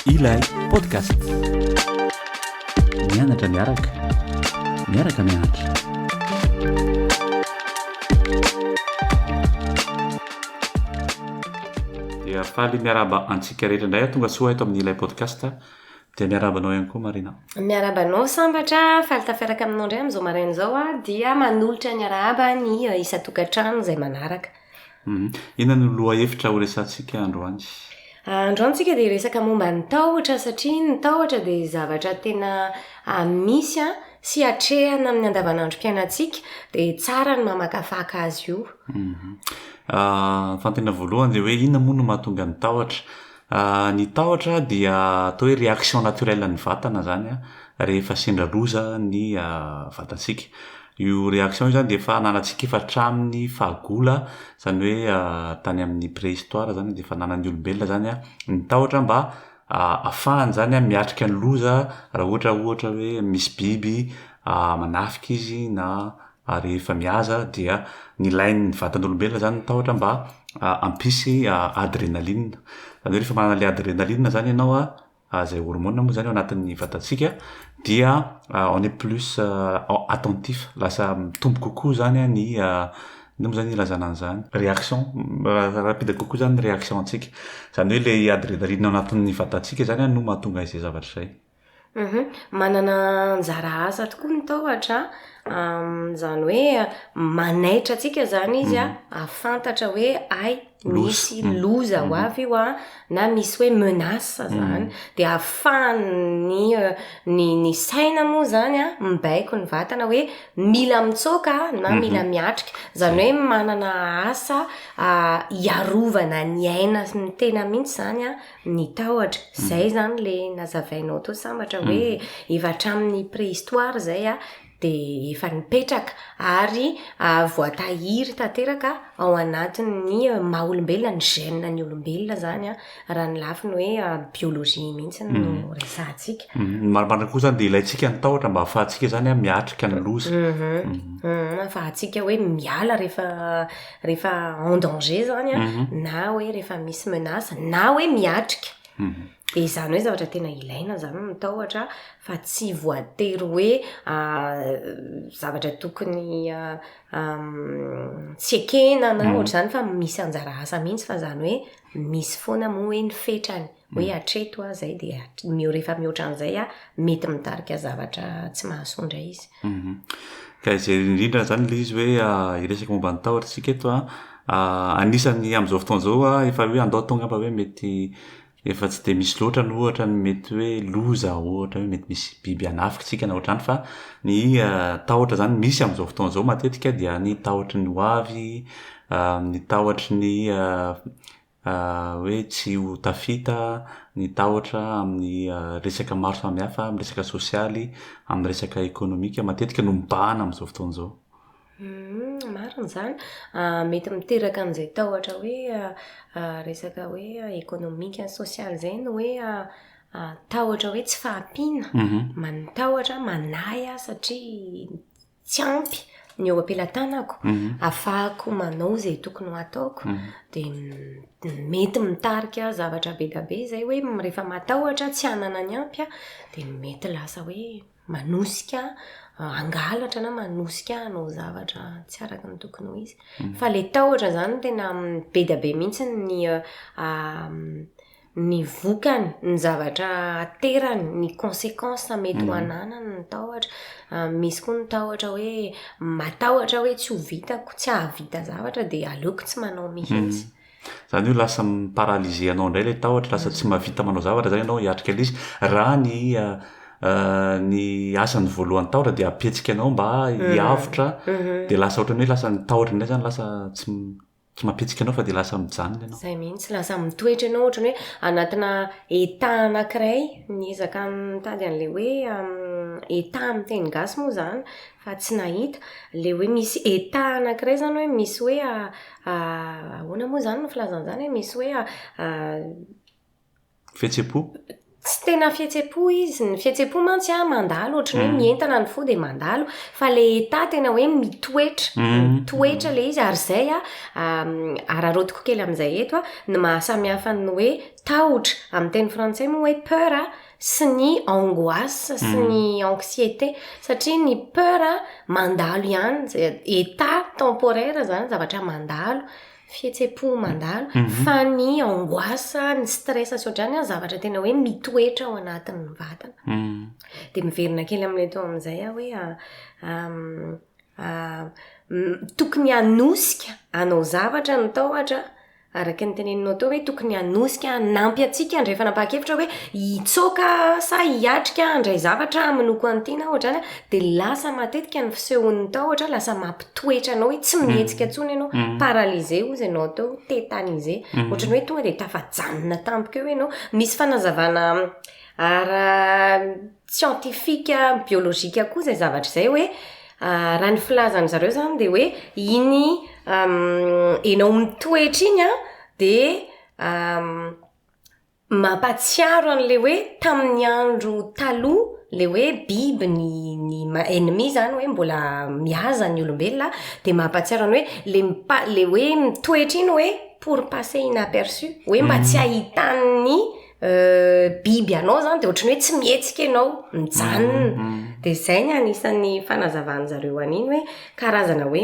Ilay podcast. Mianatra miaraka. Miaraka mianatra. Dia faly miarahaba antsika rehetra indray tonga soa eto amin'ny ilay podcast. Dia miarahaba anao ihany koa Marina. Miarahaba anao Sambatra, faly tafiaraka aminao indray amin'izao maraina izao aho ah, dia manolotra ny arahaba ny eh, isan-tokantrano izay manaraka. Mhm. Inona no lohahevitra horesahantsika androany? Ah, androany tsika dia resaka momba ny tahotra satria ny tahotra dia zavatra tena ah, misy ah, sy atrehana amin'ny andavanandrom-piainantsika dia tsara ny mamakafaka azy io. Mhm. Ah, fanontaniana voalohany dia hoe inona moa no mahatonga ny tahotra? Ahh ny tahotra dia atao hoe réaction naturelle an'ny vatana zany an, rehefa sendra loza ny vatantsika. Io réaction io zany dia efa ananantsika efa hatramin'ny fahagola zany hoe tany amin'ny préhistoire zany dia efa ananan'ny olombelona zany an ny tahotra mba ahafahany zany an miatrika ny loza raha ohatra ohatra hoe misy biby manafika izy na ary rehefa mihaza dia nilain'ny vatan'olombelona izany ny tahotra mba hampisy adrénaline, izany hoe rehefa manana ilay adrénaline izany ianao a, izay hormone moa izany ao anatin'ny vatantsika dia on est plus attentif, lasa mitombo kokoa izany ny inona moa izany ilazana an'izany? réaction, rapide kokoa izany ny réaction antsika, izany hoe ilay adrénaline ao anatin'ny vatantsika izany no mahatonga izay zavatra izay. Uhum, manana anjara asa tokoa ny tahotra an, izany hoe manaitra antsika izany izy an, mhm. ahafantatra hoe ay misy mhm. loza ho mhm. avy io an, na misy hoe menace izany, dia ahafahan'ny euh, ny ny saina moa izany an, mibaiko ny vatana hoe mila mitsoaka na mila miatrika, izany hoe manana asa ah, hiarovana ny aina sy ny tena mihitsy izany an. ny tahotra. Izay izany ilay nazavainao teo sambatra hoe efa hatramin'ny préhistoire izay dia efa nipetraka ary voatahiry tanteraka ao anatin'ny maha olombelona, ny gène ny olombelona izany raha ny lafiny hoe biologie mihitsy no resahantsika. Ny marimarina koa izany dia ilaintsika ny tahotra mba ahafahantsika izany miatrika ny loza. Ahafahantsika hoe miala rehefa rehefa en danger zany a, na hoe rehefa misy menace, na hoe miatrika. Dia izany hoe zavatra tena ilaina zany ny tahotra fa tsy voatery hoe zavatra tokony tsy ekena na ohatr'izany fa misy anjara asa mihitsy fa zany hoe misy foana moa hoe ny fetrany. Hoe hatreto aho izay dia miho rehefa mihoatra an'izay aho mety mitarika zavatra tsy mahasoa indray izy. Mhm. Ka izay indrindra izany ilay izy hoe ah, hiresaka momba ny tahotra isika eto an. Ah. Ah, anisan'ny amin'izao fotoana izao ah, efa hoe andao atao angamba hoe mety efa tsy dia misy loatra ny ohatra ny mety hoe loza ohatra hoe mety misy biby hanafika isika na ohatr'izany fa ny ah, tahotra izany misy amin'izao fotoana izao matetika dia ny tahotry ny ho avy, ah, ny tahotry ny ah, hoe tsy ho tafita ny tahotra amin'ny resaka maro samihafa, amin'ny resaka sosialy, amin'ny resaka ekonomika, matetika no mibahana amin'izao fotoana izao. Marina izany. Mety miteraka an'izay tahotra hoe resaka hoe ekonomika, sosialy izay ny hoe tahotra hoe tsy fahampiana, mitahotra, manahy aho satria. tsy ampy ny eo am-pelatanako afahako manao izay tokony ho ataoko dia mety mitarika zavatra be dia be izay hoe rehefa matahotra tsy hanana ny ampy aho dia mety lasa hoe manosika hangalatra na manosika hanao zavatra tsy araka ny tokony ho izy fa ilay tahotra izany tena be dia be mihitsy ny ny vokany, ny zavatra aterany, ny consequences mety ho ananany ny tahotra. Misy koa ny tahotra hoe matahotra hoe tsy ho vitako, tsy hahavita zavatra dia aleoko tsy manao mihitsy. Izany hoe lasa mi-paralyser anao indray ilay tahotra, lasa tsy mahavita manao zavatra izany ianao hiatrika ilay izy. Raha ny ny asany voalohany tahotra dia hampihetsika anao mba hiavotra dia lasa ohatran'ny hoe lasa ny tahotra indray izany lasa tsy tsy mampihetsika anao fa dia lasa mijanona ianao. Izay mihitsy, lasa mitoetra ianao ohatran'ny hoe anatina état anankiray, niezaka nitady an'ilay hoe état amin'ny teny gasy moa izany fa tsy nahita, ilay hoe misy état anankiray izany hoe misy hoe ahoana moa izany no filazana an'izany e, misy hoe. Fihetsem-po? Tsy tena fihetsem-po izy. Ny fihetsem-po mantsy an, mandalo, ohatry ny hoe mientana ny fo dia mandalo. Fa ilay état tena hoe mitoetra. Mitoetra ilay izy. Ary izay an, araraotiko kely amin'izay eto an, ny maha samy hafa ny hoe tahotra, amin'ny teny frantsay moa hoe peur an, sy ny angoisse sy ny anxiété. Satria ny peur an, mandalo ihany. État temporaire izany, zavatra mandalo. fihetsem-po mandalo, fa ny angoisse, ny stress sy ohatrany an, zavatra tena hoe mitoetra ao anatin'ny vatana. Mm. Dia miverina kely amin'ny eto amin'izay aho hoe ah, ah, ah, mm, tokony hanosika anao zavatra ny tahotra araka ny teneninao teo hoe tokony hanosika hanampy antsika andray fanapahan-kevitra hoe hitsoaka sa hiatrika handray zavatra aminoko an'ity na ohatrany Dia lasa matetika ny fisehon'ny tahotra, lasa mampitoetra anao hoe tsy mm. mihetsika intsony ianao, mm. paralysé hozy ianao teo, tétanisé. Mm. Ohatrany hoe tonga dia tafajanona tampoka eo ianao. Misy fanazavana ara scientifique, biolojika koa izay zavatra izay hoe ah, raha ny filazan'ny zareo izany dia hoe iny enao mitoetra iny an, dia Mampatsiaro an'le hoe tamin'ny andro taloha le hoe biby ny ny ma- ennemi zany hoe mbola mihaza ny olombelona a, dia mampatsiaro an'le hoe le mipa- le hoe mitoetra iny hoe pour passer inaperçu, hoe mba tsy ahitan'ny biby anao zany dia ohatran'ny hoe tsy mihetsika ianao, mijanona. Dia zay ny anisan'ny fanazavan'zareo an'iny hoe karazana hoe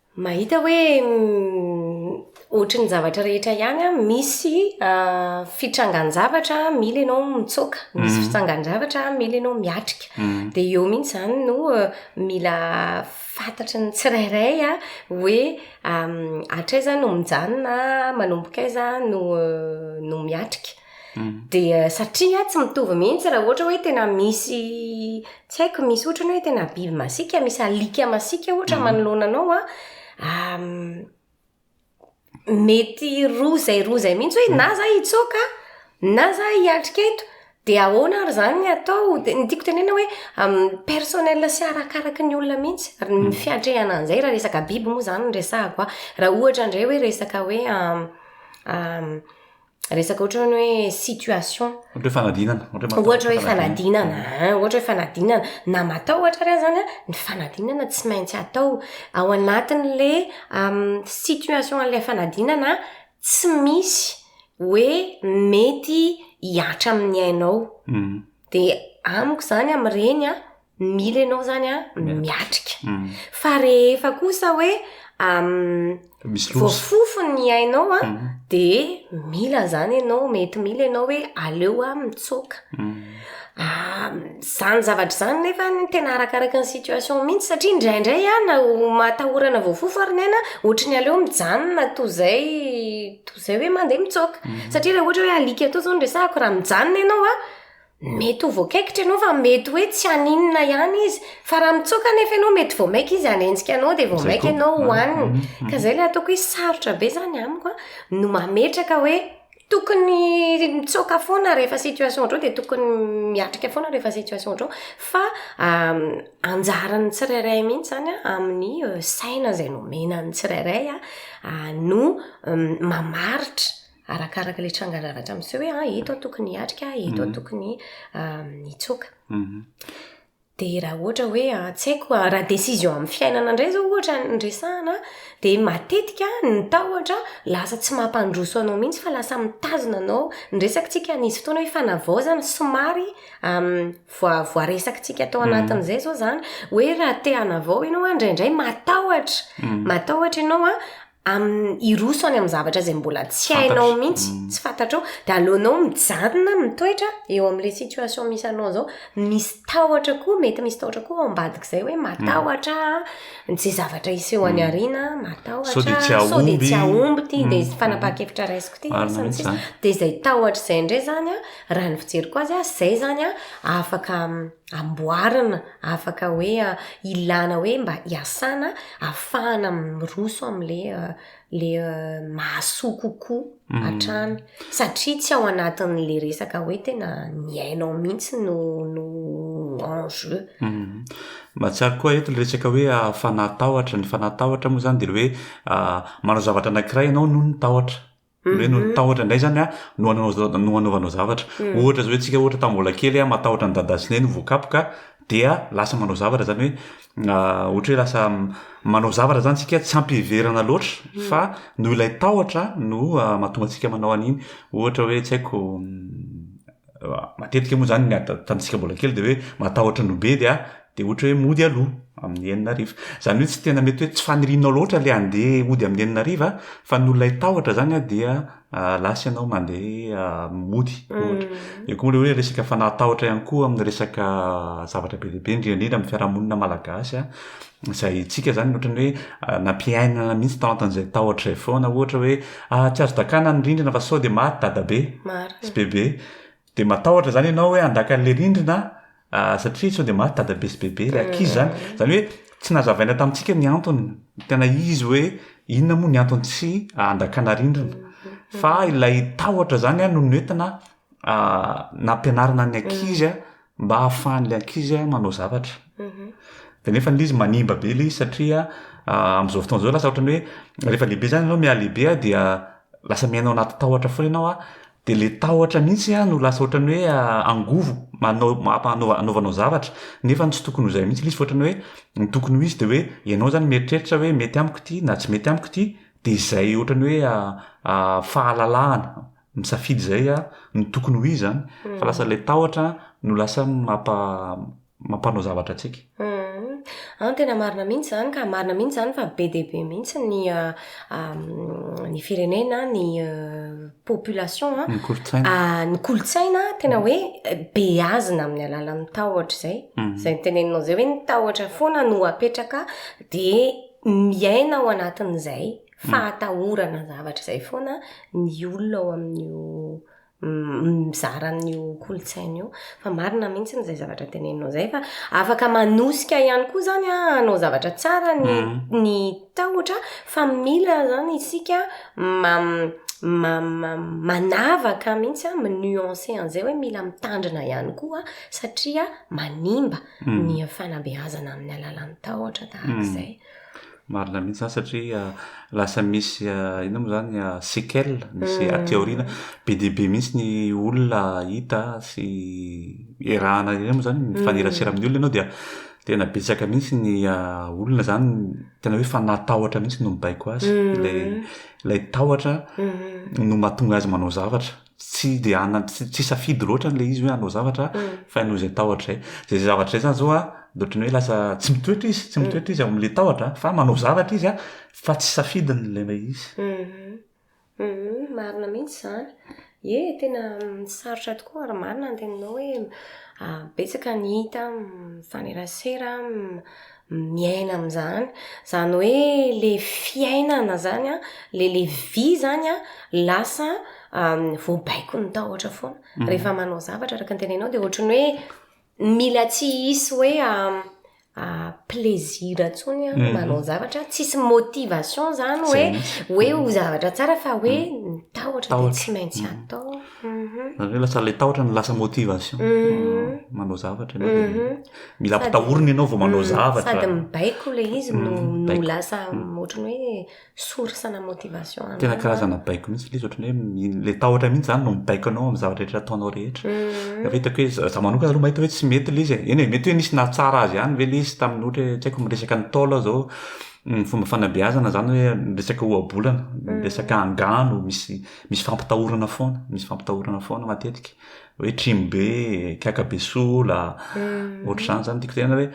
Mahita hoe ohatrin'ny zavatra rehetra ihany an, misy fitrangan-javatra mila ianao mitsoaka, misy mhm. fitsangan-javatra mila ianao miatrika. Mhm. Dia eo mihitsy izany no eh, mila fantatry ny tsirairay a hoe hatrizay no mijanona, manomboka aiza no eh, no miatrika. Mm. dia satria tsy mitovy mihitsy raha ohatra hoe tena misy tsy haiko misy ohatrany hoe tena biby masika misy alika masika ohatra mm. manoloana anao a ah, mety roa zay roa zay mihitsy hoe mm. na za hitsoaka na za hiatrika eto dia ahoana ary zany ny atao de ny tiako tenena hoe personnel sy arakaraky ny olona mihitsy ry ny fiatrehana an'izay raha resaka biby moa zany ny resahako a raha ohatra indray hoe resaka hoe resaka ohatra ny hoe situation ohatra hoe fanadinana ohatra hoe fanadinana ah, ohatra hoe fanadinana na matao ohatra ary zany a ny fanadinana tsy maintsy atao ao anatin'le situation an'la fanadinana tsy misy hoe mety hiatra amin'ny ainao hmm. de amiko zany am'ireny a Mila ianao izany an, miatrika. Fa rehefa kosa hoe voafofo ny ainao an, dia mila izany ianao, mety mila ianao hoe aleo aho mitsoaka. Izany zavatra izany nefa tena arakaraka ny situation mihitsy satria indraindray an, na matahorana voafofo ary ny aina, ohatra ny aleo mijanona toy izay, toy izay hoe mandeha mitsoaka. Satria raha ohatra hoe alika toa izao no resahako, raha mijanona ianao an. Mety ho voakaikitra ianao fa mety hoe tsy haninona ihany izy, fa raha mitsoaka anefa ianao mety vao mainka izy hanenjika anao dia vao mainka ianao ho hanina. Mhm, mhm. Ka izay ilay ataoko hoe sarotra be izany amiko an, no mametraka hoe tokony mitsoaka foana rehefa situation ohatrao dia tokony miatrika foana rehefa situation ohatrao fa anjaran'ny tsirairay mihitsy izany an, amin'ny saina izay nomena ny tsirairay an, no mamaritra. arakaraka ilay tranganavatra miseho hoe ah, eto aho tokony hiatrika, eto aho mhm. tokony hitsoaka. Mhm. Dia raha ohatra hoe ah, tsy haiko ah, raha décision amin'ny fiainana indray zao ohatra ny resahana, dia matetika ny tahotra lasa tsy mampandroso anao mihitsy fa lasa mitazona anao. Ny resakitsika nisy fotoana hoe fanavaozana somary voaresakitsika tao mhm. anatin'izay zao zany hoe raha te hanavao ianao indraindray matahotra, matahotra ianao a amin'ny hiroso any amin'ny zavatra izay mbola tsy hainao mihitsy, mm. tsy fantatrao, dia aleonao mijanona mitoetra eo amin'ilay situation misy anao izao, misy tahotra koa, mety misy tahotra koa ao ambadik'izay hoe matahotra mm. izay zavatra hiseho any mm. aoriana, matahotra, sao dia tsy ahomby, tsy ahomby ity, dia izay fanapahan-kevitra raisiko ity, dia izay tahotra izay indray izany, raha ny fijeriko azy, izay izany afaka amboarina. afaka hoe ilana hoe mba iasana afahana miroso amin'le le mahasoa kokoa mm. hatrany satria tsy ao anatin'le resaka hoe tena miainao mihitsy no no enjeu mm. mahatsiaro koa eto le resaka hoe ah, fanahatahotra ny fanahatahotra moa zany de le hoe ah, manao zavatra anankiray ianao noho ny tahotra hoe no tahotra indray zany a no ananao no anaovanao zavatra mm. ohatra zao hoe tsika ohatra tamin'ny mbola kely a matahotra ny dada sy neny voakapoka dia lasa manao zavatra zany hoe ah, ohatra hoe lasa manao zavatra zany tsika tsy ampiheverana loatra mm. fa no ilay tahotra no ah, mahatonga tsika manao an'iny ohatra hoe tsy haiko mm, Matetika moa izany ny atantsika mbola kely dia hoe matahotra ny ho be dia dia ohatra hoe mody aloha amin'ny enina hariva. Izany hoe tsy tena mety hoe tsy fanirianao loatra ilay handeha hody amin'ny enina hariva fa noho ilay tahotra izany an dia lasa ianao mandeha mody ohatra. Eo koa ilay hoe resaka fanahy tahotra ihany koa amin'ny resaka zavatra be dia be indrindra indrindra amin'ny fiarahamonina malagasy an. izay antsika zany ohatran'ny hoe nampiainana mihitsy tao anatin'izay tahotra izay foana ohatra hoe ah, tsy azo dakana ny rindrina fa sao dia maty dadabe sy bebe dia matahotra zany ianao hoe handaka an'ilay rindrina ah, satria sao dia maty dadabe sy bebe ilay ankizy mm. zany zany hoe tsy nazavaina tamintsika ny antony tena izy hoe inona moa ny antony tsy handakana rindrina mm-hmm. fa ilay tahotra zany a no noentina nampianarina ny ankizy a mba hahafahan'ilay ankizy manao zavatra mhm. de nefa le izy manimba be le izy satria am'izao fotoana izao lasa ohatrany hoe rehefa lehibe zany ianao miha lehibe a dia lasa miaina ao anaty tahotra foana ianao a de le tahotra mihitsy a no lasa ohatrany hoe angovo manao mapanao anaovanao zavatra nefa ny tsy tokony hozay mihitsy le izy fa ohatrany hoe ny tokony ho izy de hoe ianao zany mieritreritra hoe mety amiko ity na tsy mety amiko ity de izay ohatrany hoe fahalalahana misafidy izay a, ny tokony ho izy zany, fa lasa ilay tahotra no lasa mampa mampanao zavatra antsika. An, tena marina mihitsy izany ka, marina mihitsy izany fa be dia be mihitsy ny ny firenena, ny population an, ny kolontsaina, ny kolontsaina tena hoe beazina amin'ny alalan'ny tahotra izay, izay noteneninao izay hoe ny tahotra foana no apetraka dia miaina ao anatin'izay. fahatahorana zavatra izay foana ny olona ao amin'io mizara amin'io kolontsaina io fa marina mihitsy n'izay zavatra teneninao izay fa afaka manosika ihany koa zany a anao zavatra tsara ny mm. ny tahotra fa mila zany isika ma ma manavaka mihitsy a minuance an'izay hoe mila mitandrina ihany koa satria manimba mm. ny fanabeazana amin'ny alalan'ny tahotra tahaka mm. izay Marina mihitsy izany satria lasa misy inona moa izany séquelles misy aty aoriana. Be dia be mihitsy ny olona hita sy iarahana ireny moa izany, mifanerasera amin'ny olona ianao dia tena betsaka mihitsy ny olona izany tena hoe fanahy tahotra mihitsy no mibaiko azy. Ilay ilay tahotra no mahatonga azy manao zavatra. tsy dia hanana tsy tsy safidy loatra an'ilay izy hoe hanao zavatra fa noho izay tahotra izay dia izay zavatra izay zany zao a dia ohatran'ny hoe lasa tsy mitoetra izy tsy mitoetra izy ao amin'ilay tahotra fa manao zavatra izy a fa tsy safidiny ilay ilay izy marina mihitsy izany ie tena sarotra tokoa ary marina ny teninao hoe betsaka ny hita mifanerasera miaina amin'izany, izany hoe le fiainana izany an, le le vie izany an, lasa voabaikon'ny tahotra foana. Mhm. Rehefa manao zavatra araka ny tenenao dia ohatry ny hoe mila tsy hisy hoe plaisir intsony an, mhm. manao zavatra, tsisy motivation izany hoe hoe ho zavatra tsara fa hoe ny tahotra dia tsy maintsy mhm. atao. Zany hoe lasa ilay tahotra no lasa motivation. Mhm. Manao zavatra ianao dia mhm. mila ampitahorina ianao vao manao mhm. zavatra. Sady mibaiko ilay izy no no lasa ohatran'ny hoe source na motivation. Tena karazana baiko mihitsy ilay izy ohatran'ny hoe ilay tahotra mihitsy zany no mibaiko anao amin'ny zavatra rehetra ataonao rehetra. Efa hitako hoe za manokana aloha mahita hoe tsy mety ilay izy. Eny e, mety hoe nisy nahatsara azy ihany ve ilay izy tamin'ny ohatra hoe tsy haiko miresaka ny taola zao fomba fanabeazana zany hoe miresaka ohabolana, miresaka angano misy Misy fampitahorana foana, misy fampitahorana foana matetika. Hoe trimo be, kiaka be sola, mm. ohatr'izany zany tiako tena hoe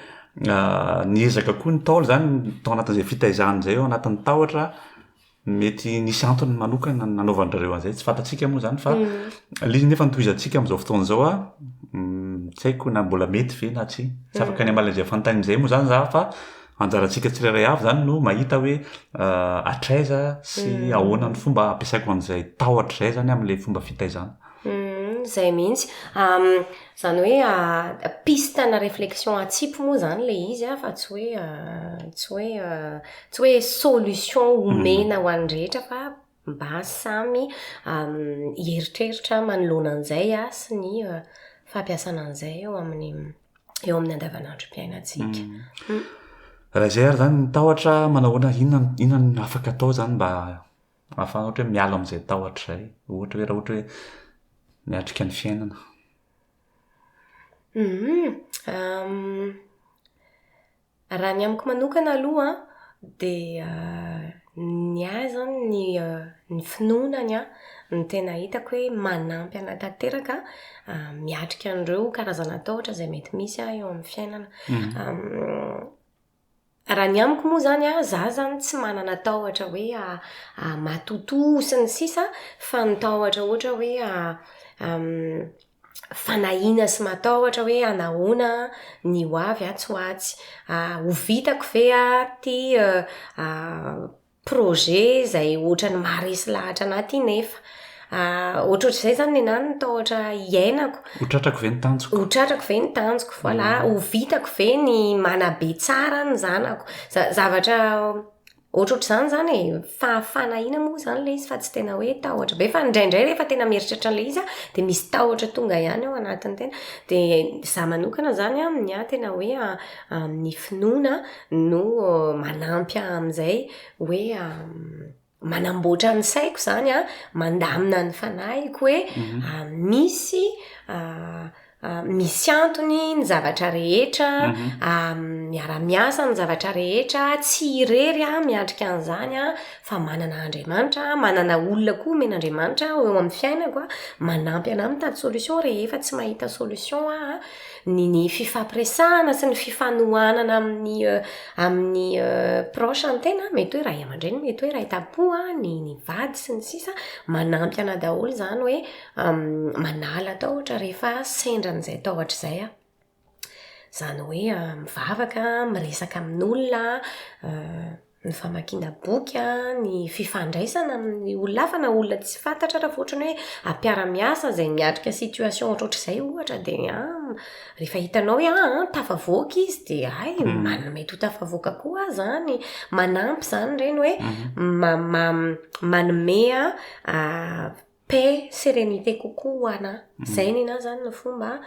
ah, niezaka koa ny taolo zany tao anatin'izay fitaizany izay eo anatin'ny tahotra mety nisy antony manokana nanaovan'ireo an'izay tsy fantatsika moa zany fa mm. liny nefa nitohizantsika amin'izao fotoana izao a mm, tsy haiko na mbola mety ve na tsy tsy mm. afaka ny amalazay fantain'izay moa zany za fa Anjarantsika tsirairay avy izany no mahita hoe hatraiza sy mm. ahoana ny fomba ampiasaiko an'izay tahotra izay izany amin'ilay fomba fitaizana. Mm, izay mihitsy. Izany hoe ah, piste na réflexion atsipy moa izany ilay izy ah, fa tsy hoe ah, tsy hoe tsy hoe solution omena mm. ho an'ny rehetra fa Mba samy hieritreritra manoloana an'izay sy ny fampiasana an'izay eo amin'ny eo amin'ny andavanandrom-piainantsika. Hmm. Raha izay ary izany ny tahotra manahoana inona inona no afaka atao izany mba ahafahana ohatra hoe miala amin'izay tahotra izay. Ohatra hoe raha ohatra hoe miatrika ny fiainana. Hmm. Raha ny amiko manokana aloha an, dia ny ahy izany ny ny finoana ny ahy no tena hitako hoe manampy an'ahy tanteraka miatrika an'ireo karazana tahotra izay mety misy an eo amin'ny fiainana. Raha ny amiko moa izany an, izaho izany tsy manana tahotra hoe matotoa sy ny sisa fa ny tahotra ohatra hoe fanahiana sy matahotra hoe hanahoana ny ho avy atsy ho atsy. Ah, ho vitako ve ah, ty ah, projet izay ohatran'ny maharesy lahatra anah ty nefa. Ah, ohatrohatr'izay izany nenah no tahotra hiainako. Ho tratrako ve ny tanjoko? Ho tratrako ve ny tanjoko? Voilà, ho vitako ve ny manabe tsara ny zanako? Za- zavatra Ohatrohatr'izany izany e, fahafahana ahiana moa izany ilay izy fa tsy tena hoe tahotra be, fa indraindray rehefa tena mieritreritra an'ilay izy aho dia misy tahotra tonga ihany ao anatin'ny tena, dia izaho manokana izany an, ny ahy tena hoe ny finoana no manampy ahy amin'izay hoe manamboatra ny saiko izany an, mandamina ny fanahiko hoe misy Ah, misy antony ny zavatra rehetra, mhm. ah, miara-miasa ny zavatra rehetra, tsy irery ah, miandrika an'izany ah, fa manana Andriamanitra, manana olona koa men'Andriamanitra eo amin'ny fiainako ah, manampy anà mitady solution rehefa tsy mahita solution ah, ny, ny fifampiresahana sy ny fifanohanana amin'ny, euh, amin'ny euh, proche ny tena, mety hoe ray aman-dreny, mety hoe ray tampoa, ny, ny vady sy ny sisa, manampy anà daholo izany hoe, manala tahotra rehefa sendra an'izay tahotra izay aho. Izany hoe mivavaka, miresaka amin'olona, ny famakiana boky, ny fifandraisana amin'ny olona hafa na olona tsy fantatra ary fa ohatra hoe mpiara-miasa izay miatrika situation ohatrohatr'izay ohatra dia an, rehefa hitanao hoe an tafavoaka izy dia hay manana mety ho tafavoaka koa aho izany. Manampy izany ireny hoe ma- ma- manome paix, sérénité kokoa ho ana. Zay nina zany ny fomba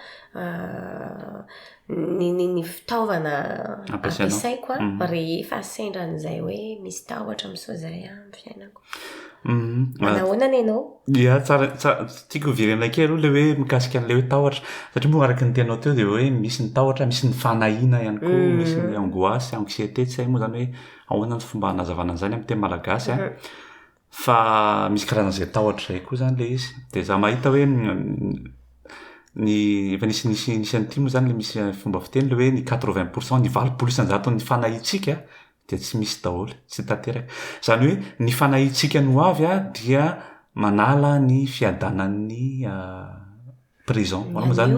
ny ny fitaovana ampiasaiko rehefa sendra an'izay hoe misy tahotra miseho zay amin'ny fiainako. Manahoana ny anao? Dia tsara tiako hoverena kely aloha ilay hoe mikasika an'ilay hoe tahotra satria moa araka ny tenao teo dia hoe misy ny tahotra, misy ny fanahiana ihany koa, misy ny angoisse, anxiété, tsy hay moa zany hoe ahoana ny fomba hanazavana an'izany amin'ny teny malagasy a. Fa misy karazana izay atao hatrizay koa izany ilay izy. Dia izaho mahita hoe ny efa nisy nisy nisy an'ity moa izany ilay misy fomba fiteny ilay hoe ny quatre vingt pour cent, ny valopolo isan-jaton'ny fanahiantsika dia tsy misy daholo, tsy tanteraka. Izany hoe ny fanahiantsika ny ho avy dia manala ny fiadanan'ny présent, ahoana moa izany?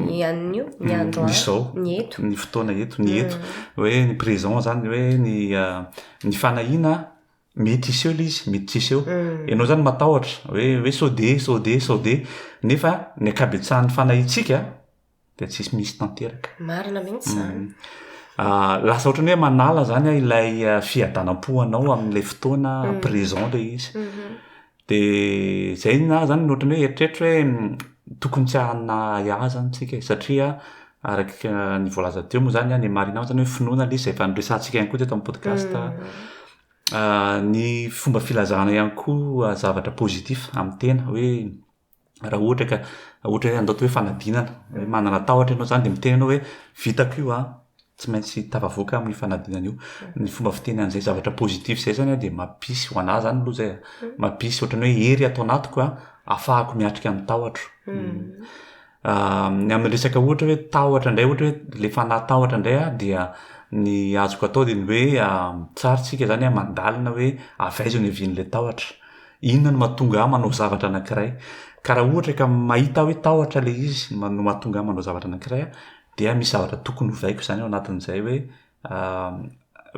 Ny anio, ny andro any, ny izao, ny eto, ny fotoana eto, ny eto. Hoe ny présent izany hoe ny ny fanahiana Mety hiseho ilay izy, mety tsy hiseho. Mm. Ianao izany matahotra hoe hoe sao dia, sao dia, sao dia. Nefa ny ankabetsahan'ny fanahintsika dia tsy misy tanteraka. Marina mihitsy izany. Mm. Ah, lasa ohatrany hoe manala zany ilay ah, fiadanam-po anao amin'ilay fotoana mm. présent ilay izy. Mm-hmm. De zay ny ahy zany ny ohatran'ny hoe eritreritro hoe tokony tsy hanana ahy zany tsika e, satria araky ny voalaza teo moa zany ny marina zany hoe finoana le izy zay efa noresahantsika ihany koa teto amin'ny podcast a, ny fomba filazana ihany koa zavatra positif amin'ny tena hoe. raha ohatra ka ohatra hoe andaoty hoe fanadinana hoe manana tahotra ianao zany de miteny ianao hoe vitako io an tsy maintsy tafavoaka amin'ny fanadinana io ny fomba fiteny an'izay zavatra positif zay zany an de mampisy ho anah zany aloha zay a mampisy ohatrany hoe hery ato anatiko an afahako miatrika ny tahotro ny amin'ny resaka ohatra hoe tahotra indray ohatra hoe le fanahy tahotra indray an dia ny azoko atao de ny hoe tsara tsika zany an mandalina hoe avy aiza no hiavian'le tahotra Inona no mahatonga ahy manao zavatra anankiray? Ka raha ohatra ka mahita aho hoe tahotra ilay izy no mahatonga ahy manao zavatra anankiray aho, dia misy zavatra tokony hovaiko izany ao anatin'izay hoe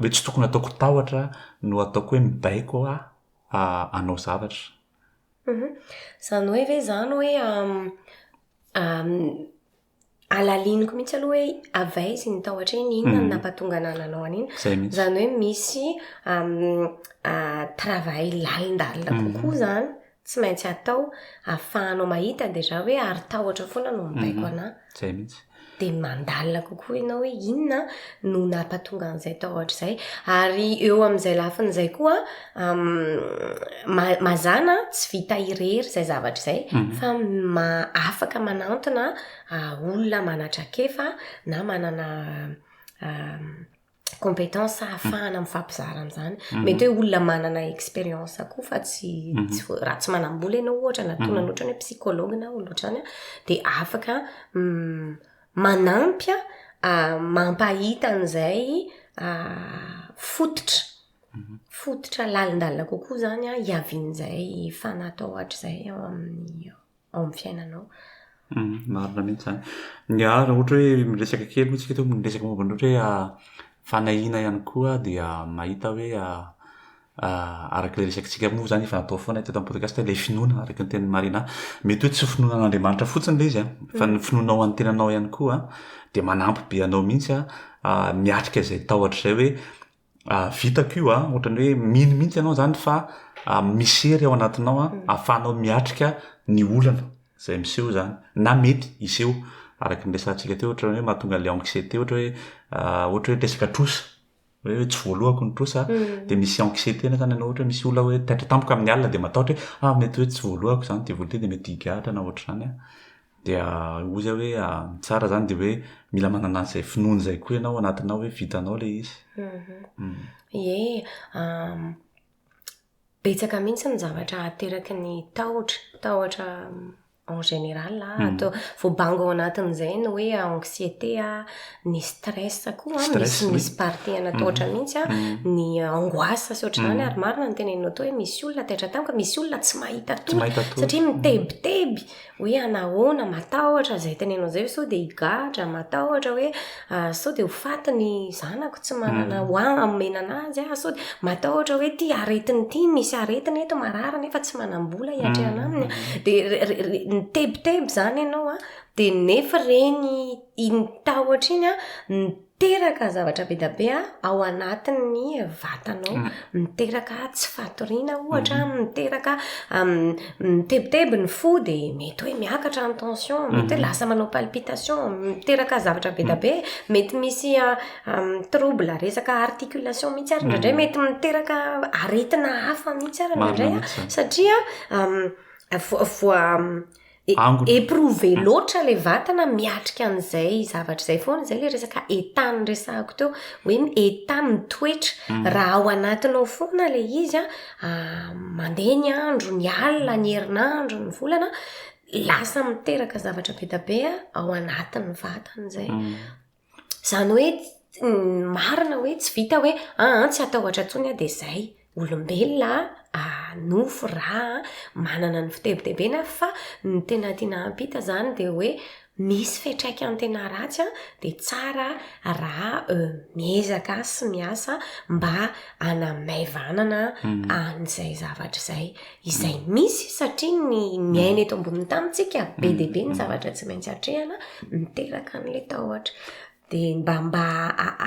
hoe tsy tokony ataoko tahotra no ataoko hoe mibaiko aho hanao zavatra. Izany hoe ve izany hoe alaliniko mihitsy aloha hoe avy aiza iny tao atrehina inona no mhm. nampatonga anah nanao an'iny izany hoe misy travail lalindalina mhm. kokoa izany tsy maintsy atao afahanao mahita dia za hoe ary tahotra foana no mibaiko mhm. anah zay mihitsy dia mandalina kokoa ianao hoe inona no nampatonga an'izay tahotra izay ary eo amin'izay lafin'izay koa mazana tsy vita irery izay zavatra izay mhm. fa afaka manantona ah, olona manatrakefa na manana ah, compétence ahafahana mifampizara an'izany mhm. mety hoe olona manana expérience koa fa tsy mhm. tsy raha tsy manambola ianao ohatra na tona loatra ny hoe psychologue na olona ohatrany dia afaka mm, manampy ah, mampahita an'izay fototra Fototra lalindalina kokoa izany an, hiavian'izay fanahy atao hoatr'izay ao amin'ny ao amin'ny fiainanao. Marina mihitsy izany. Ny ahy raha ohatra hoe miresaka kely moa isika eto, miresaka momba ny ohatra hoe fanahiana ihany koa aho dia mahita hoe araka ilay resakantsika moa izany efa natao foana teto amin'ny podcast ilay finoana araka ny tenin'i Marina. Mety hoe tsy finoana an'Andriamanitra fotsiny ilay izy an, fa ny finoanao an'ny tenanao ihany koa dia manampy be anao mihitsy an, miatrika izay tahotra izay hoe, vitako io an, ohatrany hoe mino mihitsy ianao izany fa misy hery ao anatinao an, ahafahanao miatrika ny olana izay miseho izany na mety hiseho, araka ny resahantsika teo ohatrany hoe mahatonga ilay anxiété ohatra hoe ohatra hoe resaka trosa, hoe tsy voalohako ny trosa an, dia misy anxiété na izany ianao ohatra hoe misy olona hoe taitra tampoka amin'ny alina dia matahotra hoe mety hoe tsy voalohako izany ity vola ity dia mety higadra na ohatr'izany an. Dia hoy aho hoe ny tsara izany dia hoe mila manana an'izay finoana izay koa ianao anatinao hoe vitanao ilay izy. Ie, betsaka mihitsy ny zavatra ateraky ny tahotra, tahotra en général atao voabango ao anatin'izay ny hoe anxiété, ny stress koa misy misy partie ana tahotra mihitsy an, ny angoisse sy ohatr'izany ary marina ny teneninao teo hoe misy olona taitra tamiko, misy olona tsy mahita tory satria mitebiteby. hoe anahoana, matahotra izay tenenao izay ve sao dia higadra, matahotra hoe sao dia ho faty ny zanako tsy manana ho ahy hamena an'azy aho, sao dia matahotra hoe ity aretina ity, misy aretina eto, marary nefa tsy manam-bola hiatrehana aminy an, dia re- re- re- nitebiteby izany ianao an, dia nefy ireny iny tahotra iny an, Miteraka zavatra be dia be ao anatin'ny vatanao. Miteraka tsy fatoriana ohatra, mhm. miteraka mitebiteby ny fo dia mety hoe miakatra ny tension, mhm. mety hoe lasa manao palpitation, miteraka zavatra be dia mhm. be, mety misy trouble resaka articulation mihitsy ary indraindray mety miteraka aretina hafa mihitsy ary indraindray satria voa angona. Éprouver loatra ilay vatana miatrika an'izay zavatra izay foana, izay ilay resaka état niresahako teo, hoe ny état ny toetra, mm. raha ao anatinao foana ilay izy a, ah, mandeha ny andro, ny alina, ny herinandro, ny volana, lasa miteraka zavatra be dia be ao anatin'ny vatana izay. Mm. Izany hoe marina hoe tsy vita hoe aa tsy hatahotra intsony aho dia izay. Olombelona aa nofo ra aa manana ny fitebitebena fa ny tena tiana hampita izany dia hoe misy fiatraikany tena ratsy an dia tsara raha miezaka sy miasa mba hanamaivanana an'izay zavatra izay. izay misy satria ny miaina eto ambonin'ny tany tsika be dia be ny mm. zavatra tsy maintsy atrehana miteraka an'la tahotra de mba mba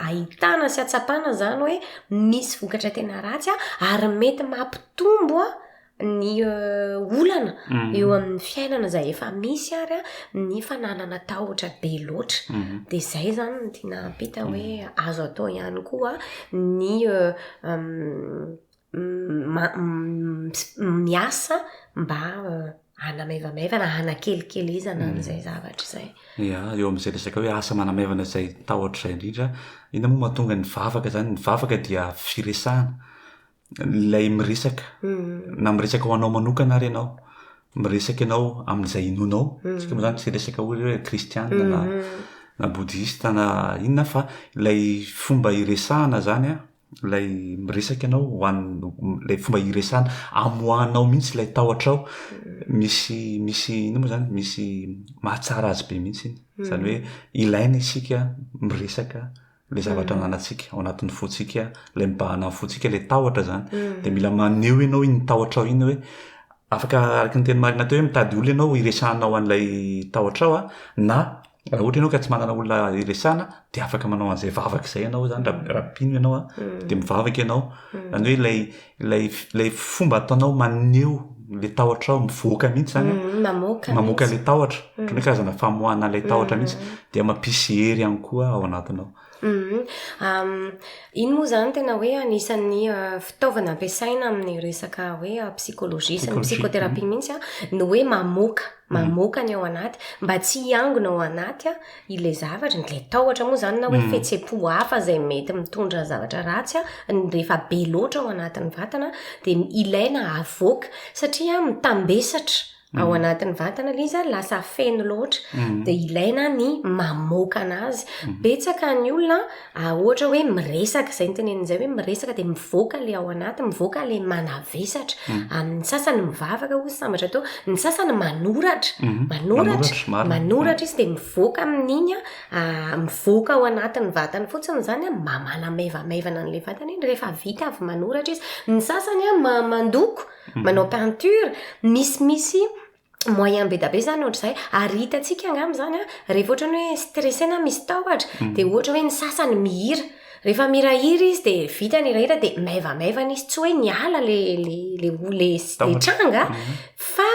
ahitana sy atsapana zany hoe misy vokatra tena ratsy a ary mety mampitombo a ny euh, olana mm. eo amin'ny fiainana zay efa misy ary a ny fananana tahotra be loatra mm. de zay zany ny tiana ampita hoe azo atao ihany koa ny euh, miasa mba hanamaivamaivana, hanakelikelezana an'izay mm. zavatra izay. Ia, eo amin'izay resaka hoe asa manamaivana izay tahotra izay indrindra, inona moa mahatonga ny vavaka izany? Ny vavaka dia firesahana, ilay miresaka, mm. na miresaka ho anao manokana ary ianao, miresaka ianao amin'izay inonao, mm. tsika moa izany tsy resaka hoe hoe kristianina na mm-hmm. na bodista na inona fa ilay fomba iresahana izany a, ilay miresaka ianao ho an'ny ilay fomba hiresana amoahanao mihitsy ilay tahotra ao misy misy ino moa zany misy mahatsara azy be mihitsy iny hmm. zany hoe ilaina isika miresaka le zavatra hmm. ananantsika ao anatin'ny fontsika ilay mibahana ny fontsika ilay tahotra zany hmm. de mila maneho ianao iny tahotra ao iny hoe afaka araky ny teny marina teo hoe mitady olona ianao hiresahanao an'ilay tahotra ao a na Raha ohatra ianao ka tsy manana olona hiresahana dia afaka manao an'izay vavaka izay ianao izany raha raha mpino ianao a, dia mivavaka ianao. Izany hoe ilay ilay ilay fomba ataonao maneho ilay tahotrao mivoaka mihitsy izany a, Mamoaka. mamoaka ilay tahotra, ohatran'ny hoe karazana famoahana ilay tahotra mihitsy, dia mampisy hery ihany koa ao anatinao. Iny moa izany tena hoe anisan'ny fitaovana ampiasaina amin'ny resaka hoe psychologie sy ny psychothérapie mihitsy ny hoe mamoaka mamoaka ny ao anaty mba tsy hiangona ao anaty ilay zavatra, ilay tahotra moa izany na hoe fihetseham-po hafa izay mety mitondra zavatra ratsy rehefa be loatra ao anatin'ny vatana dia ilaina havoaka satria mitambesatra. ao mm. anatin'ny vantana ilay izy ary lasa feno loatra mm. dia ilaina ny mamoaka anazy mm. betsaka ny olona ah, ohatra hoe miresaka izay ny tenenin'izay hoe miresaka dia mivoaka ilay ao anaty mivoaka ilay manavesatra amin'ny sasany mivavaka ho sambatra teo ny sasany manoratra mm-hmm. manoratra manoratra izy dia mivoaka amin'iny a ah, mivoaka ao anatin'ny vatany fotsiny izany a mba manamaivamaivana an'ilay vatana iny rehefa vita avy manoratra izy ny sasany a mandoko manao peinture, misy misy moyen be da be zany ohatr'izay ary hitantsika angamba zany a rehefa ohatra ny hoe stressé na misy tahotra mm. de ohatra hoe ny sasany mihira rehefa mirahira izy de vita ny rahira de maivamaivana izy tsy hoe niala le le le le tranga mm. fa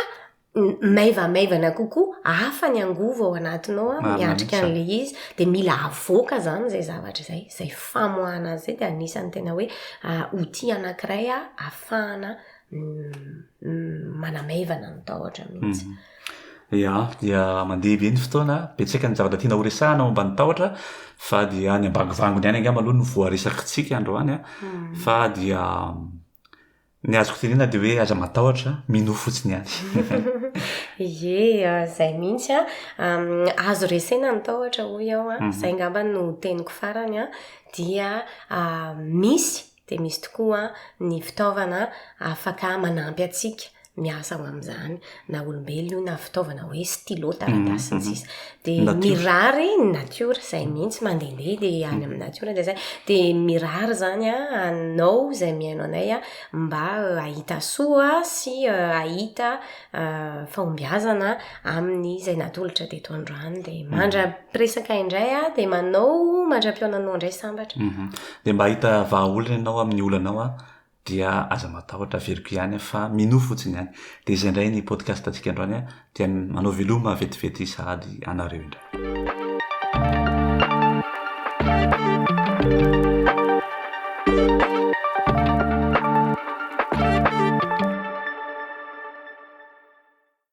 maivamaivana kokoa, hafa ny angovo ao anatinao an, miatrika an'ilay izy, dia mila avoaka izany izay zavatra izay, izay famoahana azy izay dia anisan'ny tena hoe outil anankiray ahafahana manamaivana ny tahotra mihitsy. Mhm. Ya, dia mandeha be ny fotoana, betsaka ny zavatra tiana horesahana momba ny tahotra, fa dia any ambangovangony any angamba aloha no voaresakitsika androany an, mhm. fa dia Ny azoko tenena dia hoe aza matahotra, minoa fotsiny ihany. Ie, izay mihitsy an, azo resena ny tahotra hoy aho an, mhm. izay ngamba no teniko farany an, dia misy dia misy tokoa ny fitaovana afaka manampy antsika miasa ho amin'izany. na olombelona io na fitaovana hoe stylo taratasy ny sisa dia Natiora. mirary ny natiora izay mihitsy mandehandeha dia any amin'ny natiora dia zay dia mirary zany a anao izay mihaino anay a mba eh, hahita soa sy eh, hahita eh, fahombiazana amin'ny izay natolotra teto androany dia mandra-piresaka indray a dia manao mandra-pionanao indray sambatra Mhm. Dia mba hahita vahaolana ianao amin'ny olanao a, dia aza matahotra averiko ihany aho fa minoa fotsiny ihany dia izay indray ny podcast antsika androany aho dia manao veloma vetivety sahady anareo indray